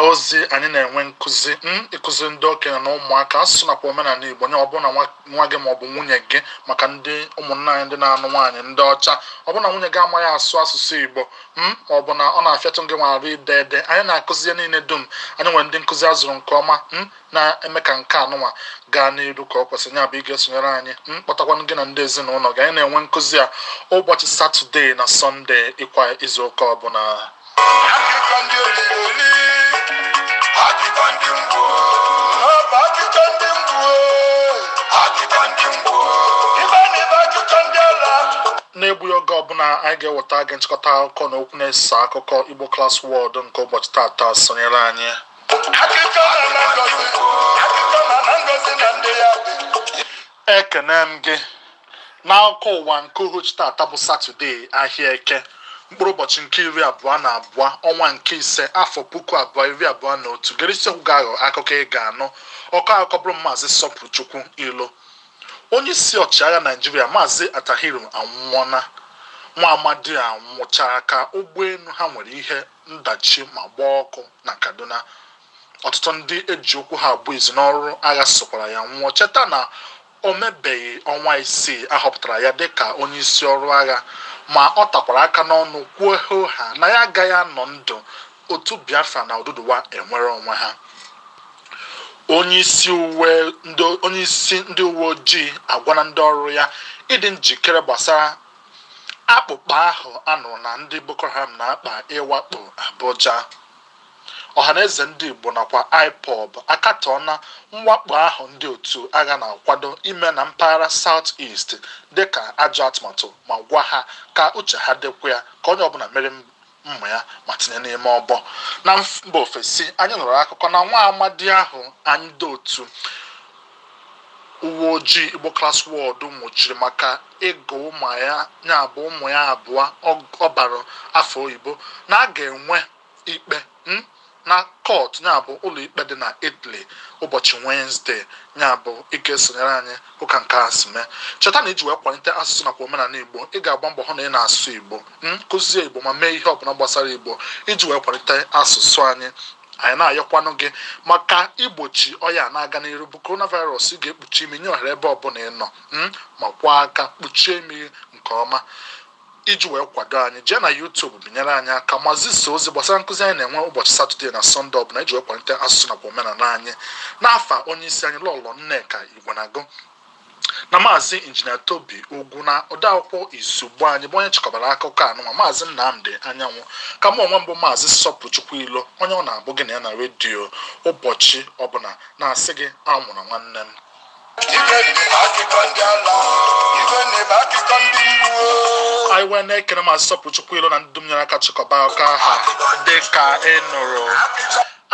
ozi anyị na-enwe nkụzi hmm, ịkụzi ndị okenye na ụmụaka asụsụ nakwa omenala Igbo nye ọ bụrụ na nwa gị ma ọ bụ nwunye gị maka ndị ụmụnna anyị ndị na-anụ nwaanyị ndị ọcha ọ bụrụ na nwunye gị amaghị asụ asụsụ Igbo hmm, ma ọ bụ na ọ na-afịatụ gị nwa arụ ide ede anyị na-akụzi ihe niile dum anyị nwere ndị nkụzi a zụrụ nke ọma hmm, na-eme ka nke anụnwa gaa n'iru ka o kwesịrị nya bụ ị ga-esonyere anyị ma kpọtakwanụ gị na ndị ezinụlọ gị anyị na-enwe nkụzi a ụbọchị satọdee na sọnde kwa izu ụka ọbụla na-egbughị oge ọbụla anyị ga-eweta gị nchịkọta akụkọ na okwu na-eso akụkọ Igbo Class World nke ụbọchị tata sonyere anyị ekene m gị n'akụkọ ụwa nke uhuchi tata bụ satọdee ahịa eke mkpụrụ ụbọchị nke iri abụọ na abụọ ọnwa nke ise afọ puku abụọ iri abụọ na otu gere isi okwu ga-aghọ akụkọ ị ga-anụ ọkọ akụkọ bụrụ maazị sọpụrụchukwu ilo onye isi ọchịagha naijiria maazị attahiru anwụọna nwa amadi a nwụchara ka ụgbọelu ha nwere ihe ndachi ma gbaa ọkụ na Kaduna. Ọtụtụ ndị e ji okwu ha agba izu n'ọrụ agha sokwara ya nwụọ. Cheta na o mebeghị ọnwa isii a họpụtara ya dịka onyeisi ọrụ agha ma ọ takwara aka n'ọnụ kwuo hoo haa na ya agaghị anọ ndụ otu Biafra na Oduduwa enwere onwe ha. Onyeisi ndị uwe ojii agwana ndị ọrụ ya ịdị njikere gbasara Akpụkpa ahụ a nụrụ na ndị Boko Haram na-akpa ịwakpo Abuja. Ọhaneze ndị Igbo nakwa Ipob akatọọna mwakpo ahụ ndị otu agha na-akwado ime na mpaghara South East dịka ajọ atụmatụ ma gwa ha ka uche ha dịkwa ya ka onye ọbụla mịrị mma ya ma tinye n'ime ọbọ na mba ofesi anyị nụrụ akụkọ na nwa amadi ahụ anyị ndị otu uwe ojii Igbo Class World nwụchiri maka ịgụ ụmụ ya ya bụ ụmụ ya abụọ ọ bara afa oyibo na a ga-enwe ikpe hmm? na kọt nya bụ ụlọikpe dị na Italy ụbọchị Wenezde nya bụ ị ga-esonyere anyị hụ ka nke a si mee cheta na iji wee kwalite asụsụ nakwa omenala Igbo ị ga-agba mbọ hụ na ị na-asụ Igbo ma kụzie Igbo ma mee ihe ọbụla gbasara Igbo iji wee kwalite asụsụ anyị anyị na-ayọkwanụ gị maka igbochi ọya na-aga n'iru bụ coronavirus ị ga-ekpuchi imi nye ohere ebe ọbụla ị nọ ma kwaa aka kpuchie imi nke ọma Iji wee kwado anyị, jee na YouTube binyere anyị aka ma zisaa ozi gbasara nkụzi anyị na-enwe ụbọchị Satọdee na Sọnde ọbụla iji wee kwalite asụsụ nakwa omenala anyị. N'afa onyeisi anyị Lọlọ Nneka Igwenagụ na maazị injinia Tobi Ugwu na odeakwụkwọ izugbo anyị bụ onye chịkọbara akụkọ anụnwa maazị Nnamdị Anyanwụ ka mụ onwe m bụ maazị Sọpụrụchukwu Ilo onye ọ na-abụ gị na ya na redio ụbọchị ọbụla na-asị gị anwụna nwanne m anyị wee na-ekene maazị Sọpụrụchukwu Ilo na ndị dum nyere aka chịkọba akụkọ a dị ka ị nụrụ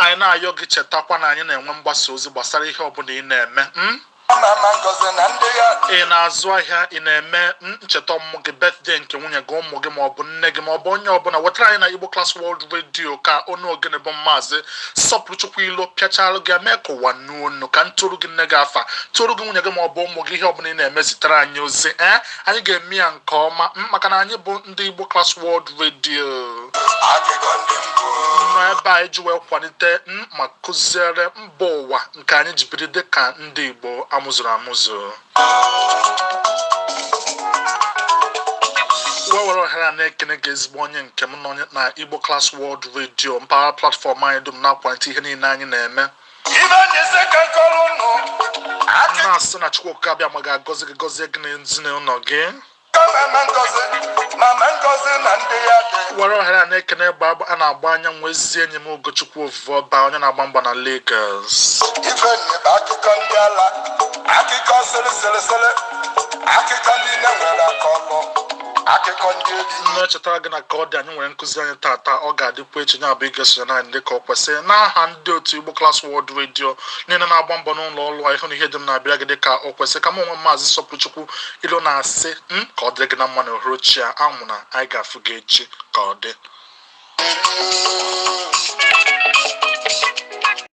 anyị na-ayọ gị chetakwa na anyị na-enwe mgbasa ozi gbasara ihe ọbụla ị na-eme hmm? ị na-azụ ahịa ị na-eme hmm, ncheta ọmụmụ gị birthday nke nwunye gị ụmụ gị maọbụ nne gị maọbụ onye ọbụla wetara anyị na Igbo Class World Radio ka onu ogene bụ maazị Sọpụrụchukwu Ilo pịachara gị mee ka ụwa nụ onu ka m tụrụ gị nne gị afa tụrụ gị nwunye gị ma ọ bụ ụmụ gị ihe ọbụla ị na-eme zitere anyị ozi ee eh? anyị ga-eme ya nke ọma maka na anyị bụ ndị Igbo Class World Radio nọ ebe a iji wee kwalite ma kụziere mba ụwa nke anyị ji biri dị ka ndị Igbo a mụzuru amụzu wee were ohere a na-ekene gị ezigbo onye nke m nọ na Igbo Class World Radio mpaghara platfọm anyị dum na-akwalite ihe niile anyị na-eme na-asị na Chukwu Okike Abịama ga-agọzi gị gọzie gị na ezinụlọ gị were ohere a na-ekene egbe a na-agba anyanwụ ezi enyi m Ugochukwu Ovuoba onye na-agba mgba na Lagos akụkọ sịrịsịrịsịrị akụkọ ndị nne nwere aka ọkụ akụkọ ndị ezi na-echetara gị na ka ọ dị anyị nwere nkụzi anyị tata ọ ga-adịkwa echi nya bụ ị ga-esonyere anyị dịka ọ kwesịrị n'aha ndị otu Igbo Class World Radio niile na-agba mbọ n'ụlọ ọrụ a ịhụ na ihe dum na-abịara gị dịka ọ kwesịrị ka m onwe m maazị Sọpụrụchukwu Ilo na-asị ka ọ dịrị gị na mma na uhuruchi a anwụna anyị ga-afụ gị echi ka ọ dị